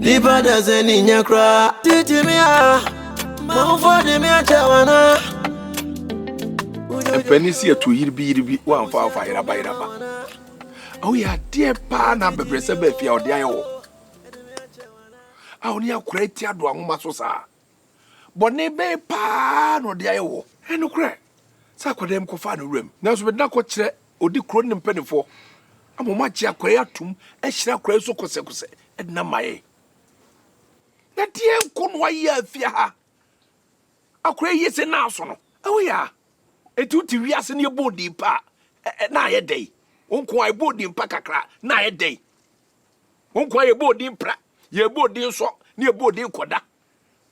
Nipa dasɛ ni nyɛ koraa. Titi mi a, manfo de mi akyɛ wana. Mpanyin si ɛto yiribi yiribi wamfa wamfa yeraba yeraba. Awo yɛ adeɛ paa na abɛbrɛsɛ bɛ afie a ɔde ayɛ wɔ. A ɔne akora eti ado ahoma so saa. Bɔne bɛn paa na ɔde ayɛ woɔ? Ɛyɛ nokorɛ sɛ akwadaa bi kɔfaa ne wuram, nanso mede no akɔkyerɛ ɔdi kuro no ne mpanimfoɔ ama wɔagye akwadaa yi atom, ahyira akwadaa yi so kɔsɛkɔsɛ de no ama yɛn. Na deɛ nko na wayɛ afia ha. Akwadaa yi yɛ sɛ naaso no. Ɛwɔ yɛ a, eti wote wiase no yɛbɔ odin pa a, na ayɛ dɛn? Wo nko a ɛbɔ odin pa kakra na ayɛ dɛn? Wo nkoa yɛbɔ odin pra, yɛbɔ odin sɔ, ne yɛbɔ odin kɔda.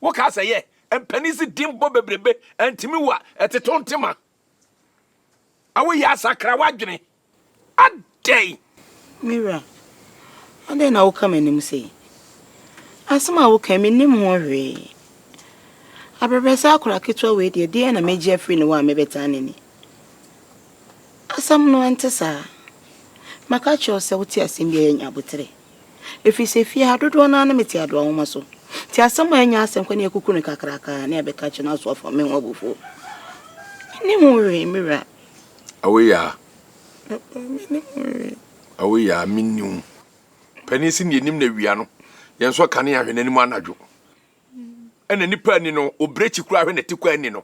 Wo kaa sɛ yɛ, mpanin se din bɔ bebrebe, antimi wa, ɛteto ntema. Awo yɛ asakra w'adwene, adɛn? Me wura, adɛn na woka m'anim sei? Asem a woka yi, mennim ho hwee. Abrɛbrɛsɛ akora ketewa wei deɛ, deɛn na mɛgye afiri ne hɔ a mɛbɛtaa n'ani? Asɛm no ɛnte saa. Maka akyerɛ wo sɛ wote asɛm bi a ɛnyɛ abotire. Ɛfiri sɛ fie ha dodoɔ no ara ne mete adoa nwoma so. Nti asɛm a ɛnyɛ asɛnkwa ne akuku no kakraka ne ɛbɛka akyerɛ no aso afa me ho abufuo. Menni ho hwee, me wura. Awoyaa. Papa, menni ho hwee. Awoyaa, menni ho. Panin se neanim na awia no, yɛnsɔ kanea hwɛ n'anim anadwo. Ɛna nipa ani no, obirekyi koraa hwɛ n'atikɔ ani no.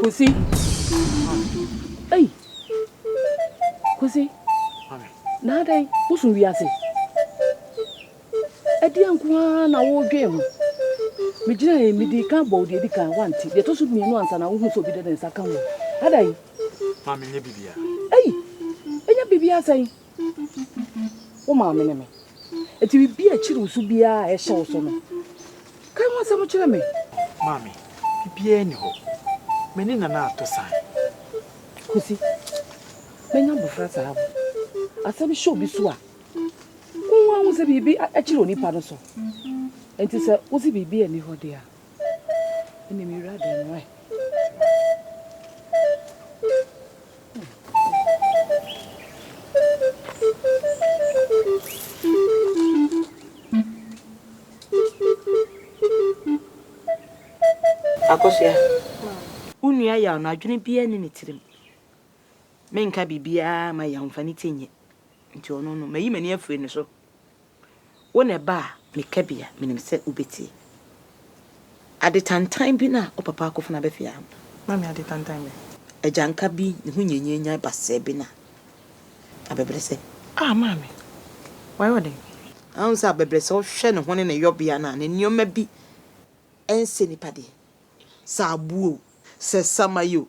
Kwesi, ei, Kwesi, na adɛn, wosom wiase? Ɛdeɛn nko ara na woredwen ho? Megyinaeɛ, medii kan bɔɔ deɛ ɛdi kan, woante. Deɛ ɛtɔ so mmienu ansa na wohunu sɛ obi de ne nsa ka ho. Adɛn? Ma menyɛ biribiara. Ei! Ɛnyɛ biribiara sɛn? Wo maame ne me. Enti biribi a ɛkyere wo so biara a ɛhyɛ wo so no, ka ɛho asɛm kyerɛ me. Maame, biribiara nni hɔ. Me ne Nana ato san. Kwasi, manya abɔfra saa o. Asɛm hyɛ obi so a, Wo nwa hu sɛ biribi akyere onipa no so. Enti sɛ wose biribi ani hɔ de a, ɛne me wura dɛn no ɛ. Akosua, wo nua yaw no, adwene biara nni ne tirim. Menka biribiara mma yɛn amfa ne ti nyɛ. Nti ɔno no, mayi m'ani afiri ne so. Wo na ɛba a, meka bi a, menim sɛ wobɛtie. Ade tantan bi no a wo papa akɔfena abɛfe ara no. Mame, ade tantan bɛn? Agyanka bi, ne ho nyanyanyan basɛɛ bi na abɛbrɛsɛ. Ah, Mame! Wayɛ wo dɛn? Ahu sɛ abɛbrɛsɛ, wohwɛ ne ho ne ne yɔbea no a, ne nneɛma bi nsɛ nnipa deɛ. Sɛ aboɔ o, sɛ samayɛ o,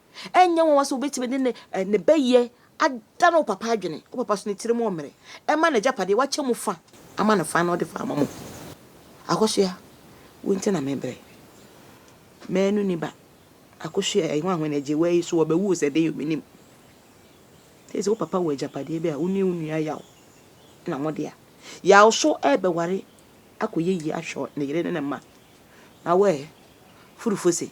Ɛnyɛ nwanwa sɛ wobɛtumi de ne eh, ne bɛyɛ adane wo papa adwene. Wo papa so ne tirim ɔmmerɛ. Ɛma n'agyapadeɛ wakyɛ mu fa ama no fa na ɔde fa ama mo. Akosua, wo nti na mebrɛ. Manu ni ba. Akosua, ɛyi nwanwa na agye wɔ yi so wɔbɛwu sɛ de yɛ menim. Sɛ sɛ wo papa wɔ agyapadeɛ bi a wo ne wo nua yaw na mo dea. Yaw so ɛbɛware akɔyɛ yie ahwɛ ne yere ne ne mma. Na wo ɛ, furufo se.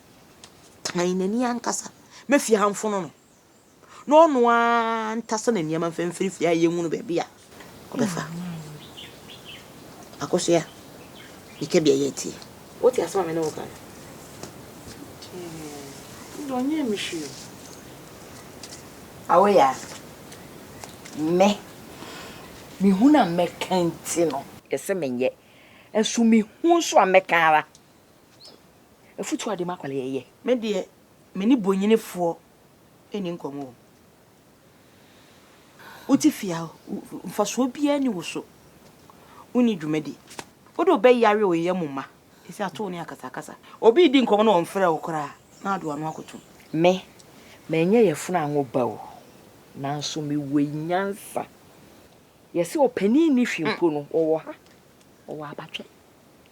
tan n'ani ankasa ma fie ha mfono no na ɔno ara ntasa na nneɛma mfimfini fie a yɛnwunu baabi a ɔbɛfa akosua meka bia yɛ tie wote asɛm a me ne wo ka no deɛ ɔnyɛ me hwee awoya me mehu na mɛka nti no ɛsɛ menyɛ ɛso mehu nso a mɛka ara Afutuo a de ma akwadaa yi yɛ. Me deɛ me ne bonyini foɔ ɛni nkɔmɔ o. Wo te fie a mfasoɔ biara ni wo so. Wo ni dwuma di. Wo de wo bɛ yare wo yɛ mo mma. Ɛsi ato wo ne akasa akasa. Obi redi nkɔmɔ na ɔnfrɛ wo koraa na ade w'ano akoto. Me, manyɛ yafunu anwo ba o, nanso me wɔ nyansa. Yɛse ɔpanin nni hwee mpo no, ɔwɔ ha, ɔwɔ abatwɛ.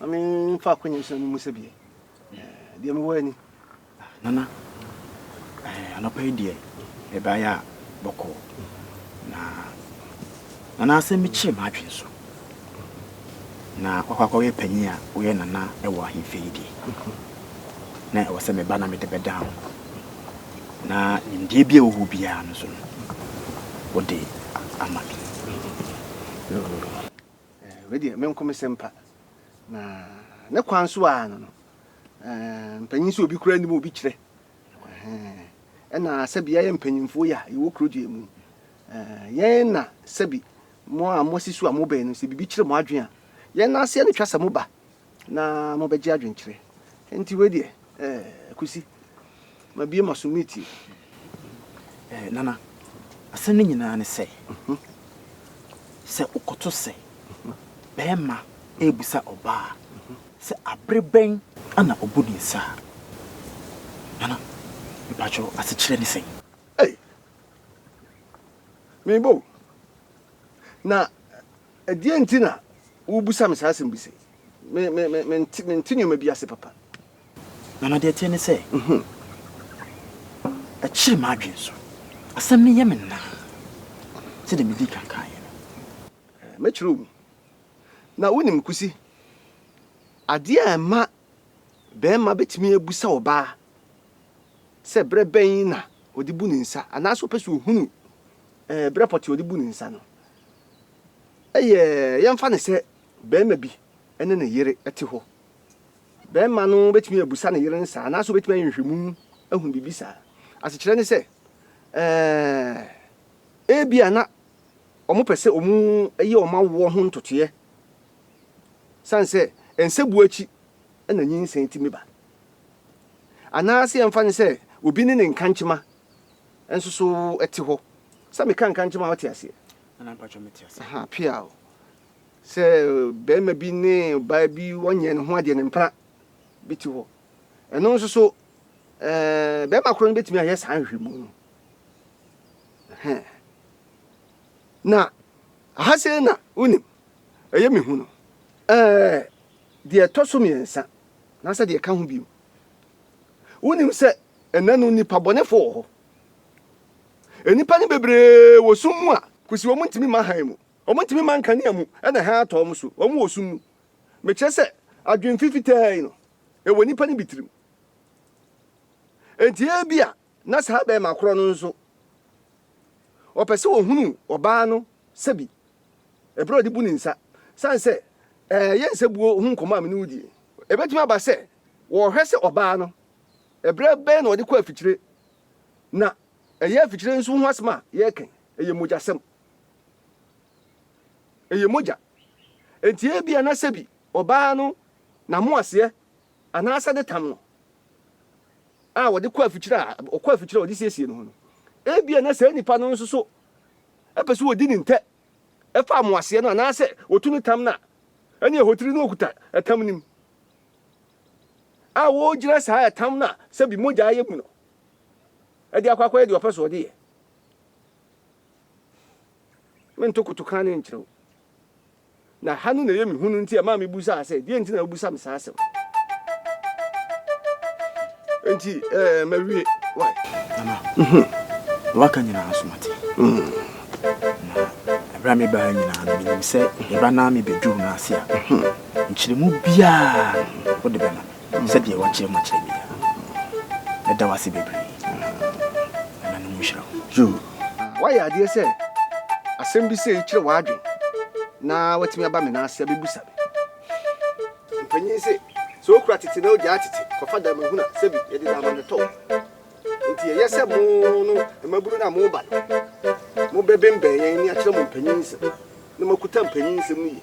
Ma me nfa akɔ nyɛ sɛ mu sɛ bie. Deɛ mewɔ ani. Nana, anɔpa yi deɛ ɛbaeɛ a bɔkɔɔ. Na nana asɛm bi kyee m'adwene so. Na wakɔ akɔyɛ panyin a woyɛ nana wɔ ahemfie yi deɛ. Na ɛwɔ sɛ meba na mede bɛda ho. Na nimdeɛ bi a ɛwɔ hɔ biara no so no, wode ama me. Eh, wei deɛ menko me sempa. Na ne kwan so a no no, eh, mpanyin sɛ obi kura anim obi kyerɛ. Eh, ɛna sɛbi yɛyɛ mpanyinfoɔ yi a yɛwɔ kuro gyeɛ mu. Eh, yɛn na sɛbi mo a moasi so a mobɛn no sɛ biribi kyerɛ mo adwene a, yɛn na aseɛ no twa sɛ moba. Na mobɛgye adwenkyerɛ. Enti wei deɛ, eh, Kwesi, mabue m'aso meretie. Eh, Nana, asɛm no nyinaa ne sɛ, sɛ wokɔto sɛ barima rebisa ɔbaa sɛ abere bɛn na obu ne nsa a, Nana, mepakyɛ wo, asekyerɛ ne sɛn? Ei! Mebɔ o. Na Ɛdeɛn nti na wobisa me saa asɛm bi sei? Me, me, me, mente, mente nneɛma bi ase papa. Nana, deɛ ɛteɛ ne sɛ, ɛkyere m'adwene so. Asɛm no yɛ me naa sɛdeɛ medii kan kaeɛ no. Mɛkyerɛ wo mu. Na wonim, Kusi, adeɛ a ɛma barima bɛtumi abisa ɔbaa sɛ berɛ bɛn na ɔde bu ne nsa anaasɛ ɔpɛ sɛ ɔhunu ɛɛ berɛ pɔtee a ɔde bu ne nsa no, Ɛyɛ, yɛmfa no sɛ barima bi ne ne yere te hɔ. Barima no bɛtumi abusa ne yere no saa, anaasɛ ɔbɛtumi ayɛ nhwɛmu ahunu biribi saa. Asekyerɛ ne sɛ, eh, ebia na wɔpɛ sɛ wɔyɛ wɔn awoɔ ho ntotoeɛ, sane sɛ nsabuo akyi na nyinsɛn tumi ba. Anaasɛ yɛmfa no sɛ obi ne ne nkankyema Nso so ɛte hɔ sɛ meka nka nkyerɛ ma woate aseɛ? Nana, mpakyɛ mete aseɛ. Aha, pia o. Sɛ barima bi ne ɔbaa bi wɔnyɛ ne ho adeɛ no mpena bi te hɔ. Ɛno nso so ɛɛ barima koro no bɛtumi ayɛ saa nhwehwɛmu no. Ɛhɛ. Na aha sei na wonim ɛyɛ mehu no. Ɛɛ deɛ ɛtɔ so mmiɛnsa na sɛ deɛ ɛka ho bio. Wonim sɛ Ɛnnɛ no nnipa bɔnefo wɔ hɔ. Nnipa no bebree wɔ sum mu a. Kosi wɔn ntumi mma hann mu. Wɔn ntumi mma nkanea mu na hann atɔ wɔn so. Wɔn wɔ sum mu. Mekyerɛ sɛ, adwene fifitɛɛ yi no, ɛwɔ nnipa no bi tirim. Enti ebia na saa barima koro no nso, ɔpɛ sɛ ɔhunu ɔbaa no sɛ bi, bere a ɔde bu ne nsa, sane sɛ, Ɛɛ, yɛnsɛ buo ho nkɔmmɔ a me ne wo die. Ebetumi aba sɛ wɔrehwɛ sɛ ɔbaa no Ɛberɛ bɛn na wɔde kɔ afikyire? Na ɛyɛ afikyire nso ho asɛm a yɛreka yi, ɛyɛ mogyasɛm. Ɛyɛ mogya. Enti ebia na sɛbi ɔbaa no n'amoaseɛ anaasɛ ne tam no a wɔde kɔ afikyire a ɔkɔ afikyire a wɔde siesie ne ho no, ebia na saa nipa no nso so pɛ sɛ wɔdi ne ntɛ fa amoaseɛ no anaasɛ wɔtu ne tam no a, ɛne ɛhotiri no ɔkuta ɛtam no mu. a wɔregyina saa ɛtam no a sɛ bi mogya ayɛ mu no de akɔ akɔyɛ deɛ ɔpɛ so ɔde yɛ. Mento kotoka ne nkyerɛ wo. Na ha no na ɛyɛ me hu no nti ɛmaa mebusaa sɛ, deɛ nti na wobisa me saa asɛm? Nti eh, mawie. Why? Mama, mhm. waka nyinaa so mate. Mhm. Na ɛberɛ a mebaa nyinaa no menim sɛ meba na mebɛduru no ase a mhm. Nkyerɛmu biara no, wode bɛma me sɛdeɛ woakyerɛ mu akyerɛ me yi ara. Mɛda wo ase bebree. Ɛna no nhyira wo. Yoo. Woayɛ adeɛ sɛ asɛm bi sei kyerɛ w'adwene na woatumi aba me nan ase abɛbisa me. Mpanin se, sɛ wokura tete na wogyaa tete kɔfa da mu hunu a, sɛbi yɛde da ama no tɔ wo. Enti ɛyɛ sɛ mo no, mmabunu no a moba no, mobɛbembɛn yɛn na yɛakyerɛ mo mpanin nsɛm, na moakuta mpanin nsɛm no yie.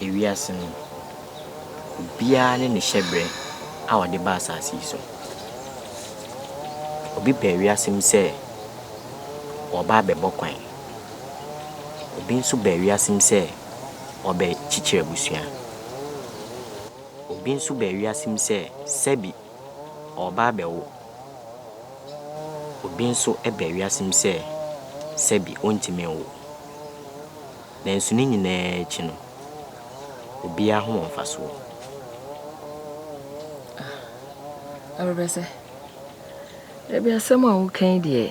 ewiase no, obiara ne ne hyɛberɛ a ɔde ba asase yi so. Obi pɛ wiase mu sɛ ɔreba abɛbɔ kwan. Obi nso ba wiase mu sɛ ɔrebɛkyekyere abusua. Obi nso ba wiase mu sɛ sɛbi ɔreba abɛwo. Obi nso ba wiase mu sɛ sɛbi ɔntumi nwo. Nanso ne nyinaa akyi no, obiara ho wɔ mfasoɔ. Ah, Awurabɛsɛ, dabi asɛm a woka yi deɛ,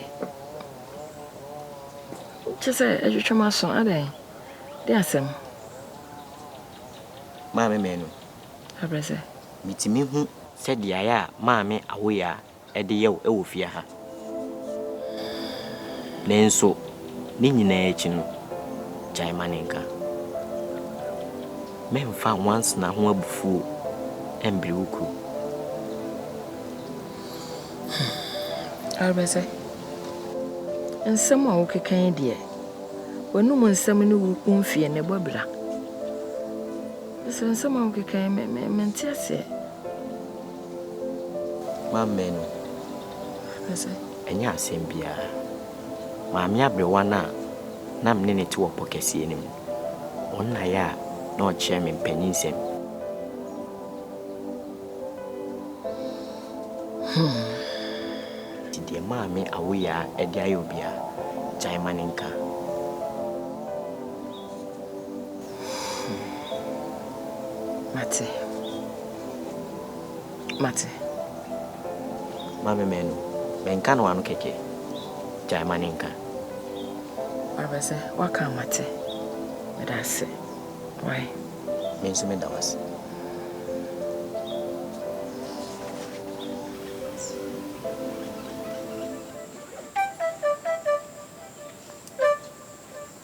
kyɛ sɛ ɛtwetwe m'aso, adɛn? De asɛm. Maame Manu. Awurabɛsɛ. Metumi hu. Sɛ beaeɛ a maame Awoyaa. de yɛ wo wɔ fie ha. Nanso ne nyinaa akyi no, gyae ma ne nka. Mɛmfa nwansena ho abufuo mmere wo kuro. Hmm. Arebɛsɛ, nsɛm a wokeka yi deɛ, w'anom nsɛm ne wo mfie ne bɔ bira. Sɛ nsɛm a wokeka yi, mente aseɛ. Mammɛn no. Ɛnyɛ asɛm biara. Maame aberewa no a na me ne no te wɔ pɔ kɛseɛ no mu, ɔno na yɛ a na ɔkyerɛ me mpaninnsɛm. Nti deɛ Maame Awoyaa de ayɛ obiara, gyae ma no nka. Mate. Mate. Ma me menu. Menka no ano kɛkɛ. Gyae ma ne nka. Wabɛ sɛ, waka a mate. Meda ase. Why? Me nso meda wo ase.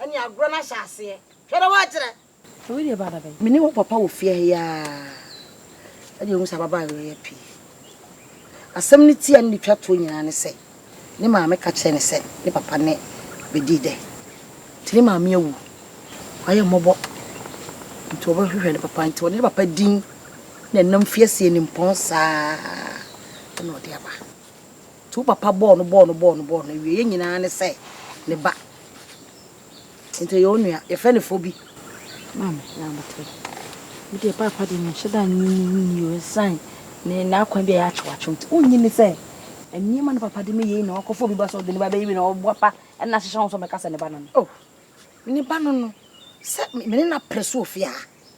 Ɛne agorɔ no ahyɛ aseɛ. Hwɛ na woakyerɛ. Sɛ wei deɛ baa da bɛn? Me ne wo papa wɔ fie ha yi ara ɛde ahu sɛ ababaa awereɛ pii. Asɛm no ti a ne de twa toɔ nyinaa ne sɛ ne maame ka kyerɛɛ no sɛ ne papa ne bɛdii dɛ. Nti ne maame awu. Wayɛ mmɔbɔ nti ɔbɛhwehwɛ ne papa nti ɔde ne papa din na ɛnam fie aseɛ nimpɔn saa na ɔde aba. Nti wo papa bɔɔ no bɔɔ no bɔɔ no bɔɔ no awieɛ nyinaa ne sɛ ne ba nti ɔyɛ onua yɛfrɛ no fo bi. Maame na abotire wo deɛ paapa deɛ menhyɛ da nye ne nni o ɛsan ne n'akwan bi a ɛyɛ akyewakyew nti wonnye ne sɛ nneɛma ne papa de me yei na wakɔfa obi ba sɛ ɔde ne ba bɛyi bi na ɔboa pa ɛna ahyehyɛ ho sɛ ɔbɛka sɛ ne ba no no o ne ba no no sɛ me ne no apere so ofie ha.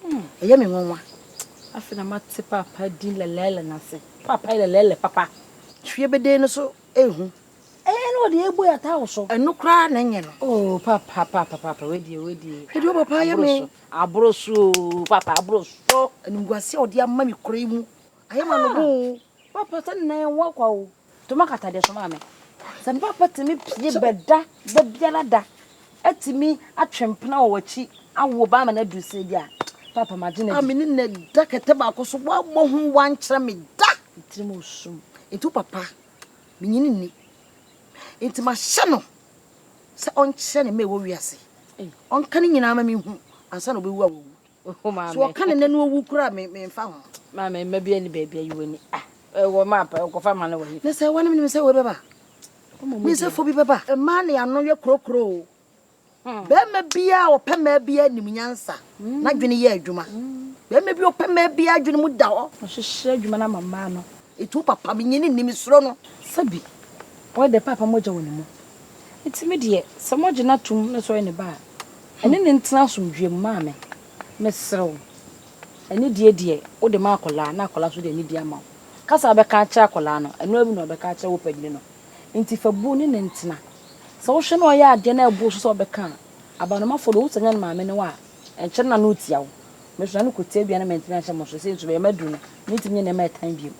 Hmm, ɛyɛ me nwanwa. Afei na mate papa din lɛlɛɛlɛ no ase. Papa yɛ lɛlɛɛlɛ papa. Fie beden no so ehu. Ɛyɛ na ɔde ebu yata wo so. Ɛno koraa na ɛnyɛ no. Oh, papa, papa, papa, wedie, wedie. Hwɛ deɛ papa ayɛ me. Aboro so, papa, aboro so. Animguase a ɔde ama me kora yi mu. Ayɛ ma no bo. Papa, sɛ nnan ɛnwa kwa o. To ma kata deɛ soma me. Sɛ me papa tumi pie bɛda da biara da atumi atwe mpena wɔ w'akyi awo ba ama no aduru sɛ bi a papa magye no adi. Me ne na da kɛtɛ baako so woammɔ ho woankyerɛ me da. Tirim osum nti wo papa menyini nni nti mahyɛ no sɛ ɔnkyerɛ ne mma ɛwɔ wiase ɔnka ne nyinaa ma mehu ansa na ɔbɛwu a wawu. Ohu maame. So ɔka ne nɛ no owu kura me me nfa ho. Maame mma bi ani baabi ayi wani. Ah, ɛwɔ ma pa ɔkɔfa ma no wɔ he. Ne sɛ wɔne me sɛ wɔbɛba. Me sɛ fo bi bɛba. Mmaa ne ano yɛ kurokuro o. Bɛrima biara a ɔpɛ mmaa biara nim nyansa. N'adwene yɛ adwuma. Bɛrima bi ɔpɛ mmaa biara adwene mu da hɔ. Ɔhyehyɛ adwuma no ama mmaa no. Etu papa me nyini nni me suro no. Sɛbi, ɔyɛ dɛ paapa mogya wɔ ne mu. Enti me deɛ, sɛ moagye no atom na sɛ ɔyɛ ne ba a, ɛne no ntena asomdwoeɛ mu. Maame, mesrɛ wo, anidie deɛ, wode ma akwadaa, na akwadaa nso de anidie ama wo. Ka sɛ wobɛka akyerɛ akwadaa no, ɛno ara bi na ɔbɛka akyerɛ wo panin no. Enti fa bu ne no ntena. Sɛ wohwɛ na ɔyɛ adeɛ na ɛbo so sɛ ɔbɛka a, abanomafoɔ no, wohu sɛ ɛnyɛ ne maame ne wo a, ɛnkyɛre na na ɔretia wo. Me nso, na ne kɔtia bi a na mantumi anhyɛ mo nso. Sei nso, bɛyɛ maduru no, mentumi nyɛ nneɛma a ɛtan bio.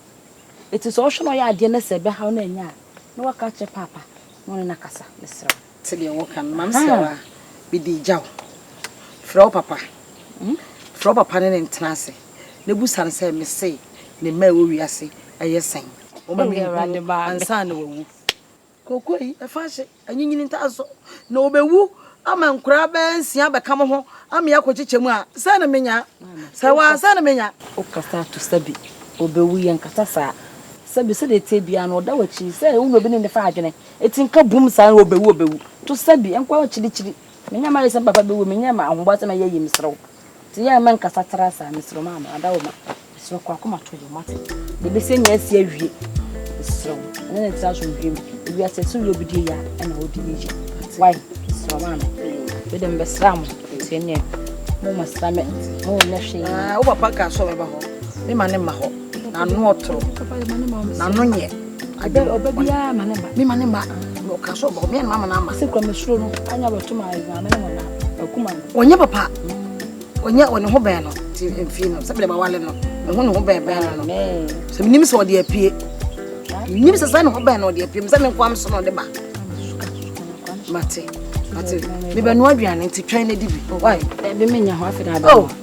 Eti sɛ ɔhwɛ na ɔyɛ adeɛ na sɛ ɛbɛhaw no annya a, na waka akyerɛ paapa na ɔne no akasa. Mesrɛ wo. Te deɛ woka no. Maame srɛ wo a, mede regya wo. Frɛ wo papa. Frɛ wo papa ne no ntena ase na busa no sɛ, Mese ne mma a ɛwɔ wiase yɛ sɛn? Wɔma menhunu ansa na wɔawu. Kooko yi, fa hyɛ anyinyin ntar so, na obewu ama nkoraa bɛyɛ nsia abɛka mo ho ama yɛakɔkyekyɛ mu a, sɛn na menya? Sɛ ɔa, sɛn na menya? Wokasa ato sɛbe obewu, yɛnkasa saa. Sɛbe sɛdeɛ ɛteɛ biara no, ɔda w'akyiri, sɛ wo na obi ne ne fa adwene, enti nka bum saa no, obewu, obewu. To sɛbe, ɛnkɔ akyirikyiri. Menyɛ mma ayɛ sɛ me papa bɛwu, menyɛ mma ahoboa sɛ mɛyɛ ayi, mesrɛ wo. Nti yɛn mma nkasa tra saa mesrɛ ma ama ada wo ma mesrɛ kɔ akoma to yɛ mate deɛ bɛsɛ nyɛ asi awie mesrɛ wo ɛne ne tra so nhwɛ mu ebi asɛ sɛ woyɛ obi deɛ yɛ a ɛna wode yɛ yɛ wai mesrɛ ma ama bɛdɛ mbɛsra mo nti ɛneɛ mo masra me mo nyɛ hwee wo papa ka sɛ ɔbɛba hɔ me ma ne mma hɔ n'ano ɔtoro n'ano nyɛ ade mema ne ma ɔka sɛ ɔbɔ me ɛnma mana ama sɛ kura mesuro no anya bɛto ma ɛdwa me ne mo na akuma no ɔnyɛ papa ɔnyɛ ɔne ho bɛn no ti mfie no sɛbi de ma wale no ne ho ne ho bɛn bɛn no no sɛ menim sɛ ɔde apue menim sɛ sɛ ne ho bɛn no ɔde apue me sɛ me nkoa me so na ɔde ba mate mate mebɛnoa aduane nti twɛn no adi bi wae ɛbi menyɛ ho afei na abɛma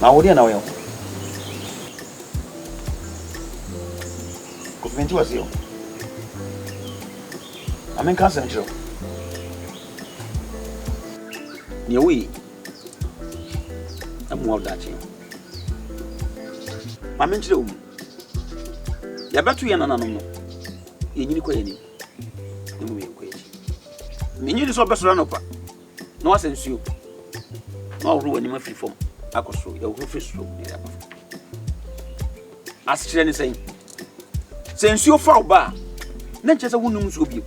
Na wo deɛ na woyɛ ho. Kofimenti wɔ se o. Ma menka asɛm kyerɛ wo. Deɛ woyi ɛmmoa wo daakye. Ma menkyerɛ wo mu. Yɛbɛto yɛn nananom no. Yɛnyini kɔ yɛn anim. Na mmom yɛnkɔ yɛn akyi. Mennye nni sɛ ɔbɛsɔre anɔpa. na woasa nsuo, na woahoro w'anim afiri fam akɔ soro, yɛhohoro firi soro na yɛaba fam. Asekyerɛ ne sɛn? Sɛ nsuo fa wo ba a, na nkyɛ sɛ wonom nsuo bio.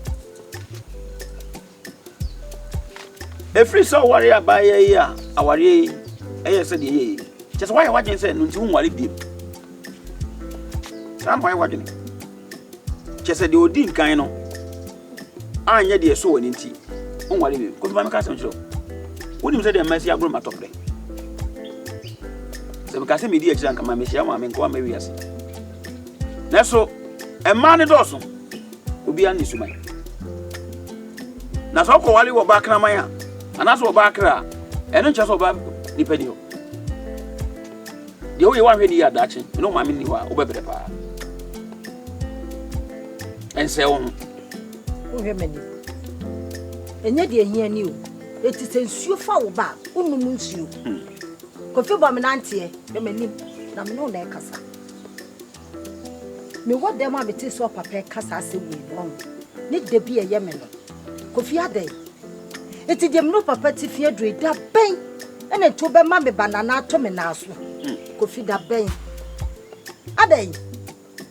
Ɛfiri sɛ ɔware abaayɛ yi a awareɛ yi ɛyɛ sɛ deɛ yɛyɛ kyɛ sɛ woayɛ w'adwene sɛ no nti wonware bio. Saa na woayɛ w'adwene kyɛ sɛ deɛ ɔdi nkan no anyɛ deɛ ɛsɔ w'ani nti, wonware bio. Kofi, ma menka asɛm nkyerɛ wo. Wonim sɛ deɛ masi agorɔ ma tɔprɛ. Sɛ meka sɛ medi akyiri anka ma mehyia maame nkoa ma wiase. Nanso, mmaa no dɔɔso. Obiara ne suman. Na sɛ ɔkɔwale wɔ ɔbaa kraman a, anaasɛ ɔbaa kra a, ɛno nkyerɛ sɛ ɔbaa nipa ni hɔ. Deɛ woyɛ woanhwɛ ne yie a daakye me ne wo maame nni hɔ a wobɛbrɛ paa. Ɛnsɛe wo ho. Wohwɛ m'ani. Ɛnyɛ deɛ hia ni o. Ɛti sɛ nsuo fa wo ba a wonom nsuo. Hmm. Kofi bɔ me nanteɛ na m'anim na me ne wo na ɛkasa. Mewɔ dɛm a metsee so a papa reka saa asɛm wei no, wahu. Ne dɛ bi a ɛyɛ me no, Kofi adɛn? Ntsi deɛ mene wo papa tse fi aduro yi, da bɛn na ntsi wobɛma me banana ato me nan so? Kofi, da bɛn? Adɛn?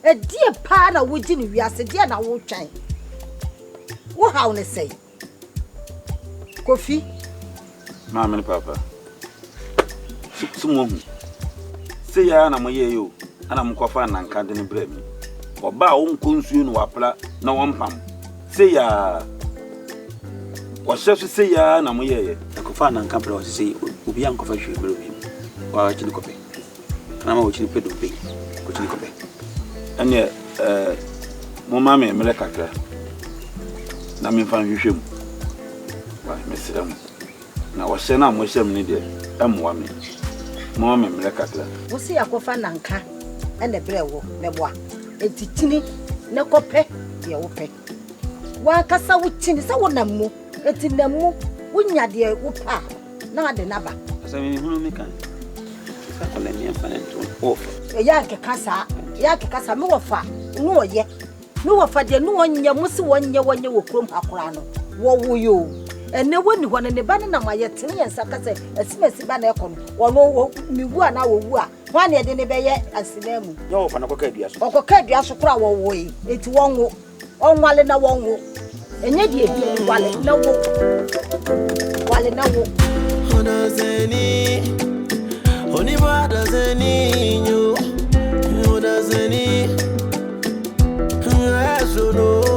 Ɛdeɛ paa na wogye no wiase, deɛ na wotwɛn? Wohaw no sɛn? Kofi. Maame ne paapa, so so moahu? Sei ara na moyɛeɛ o, ɛna mokɔfaa nnanka de no brɛɛ me. Ɔbaa a ɔnkɔ nsuo na wapra na ɔmpam. Sei ara, ɔhyɛ so sei ara na moyɛeɛ. Ɛkɔfaa nnanka brɛɛ ɔse sei, obiara nkɔfa hwee mmrɛ obi, wo ara kye ne kɔpɛ. N'ama wokyin pɛ dompe, wokyin kɔ pɛ. Ɛnneɛ ɛɛ momma me mmerɛ kakra na memfa nhwehwɛ mu. Wai, mesrɛ mo. Na ɔhyɛ no a mohyɛ me no deɛ, ɛmmoa me. Momma me mmerɛ kakra. Wo se yɛakɔfa nnanka na ɛbrɛ wo, mɛboa. Enti tini na kɔpɛ deɛ wopɛ. W'ankasa wukyin sɛ wonam mu, enti nam mu, wunya deɛ wopɛ a, na ade no aba. Sɛ menhunu me kan sɛ kɔ na meɛmfa ne nto no o. Ɛyɛ nkeka saa, ɛyɛ nkeka saa, me wɔfa ne ɔyɛ, me wɔfa deɛ ne ɔnyɛ, mo se wɔnyɛ wɔnyɛ wɔ kurom ha koraa no, wɔwo yɛ o, ɛnɛ wɔnni hɔ no, ne ba no nam a yɛtene yɛn nsa ka sɛ asimasi ba na ɛkɔ no, ɔno, mewu anaa ɔwu a, Hwan na yɛde no bɛyɛ asenanmu? Nyɛ ɔwɔ fa no kɔka dua so. Ɔkɔka dua so koraa wɔwoe, enti wɔnwo. Ɔnwale na wɔnwo. Ɛnyɛ deɛ ɛhia yi, wale na wo. Wale na wo. Odazeni, onimo adazeni nyo, odazeni, esono.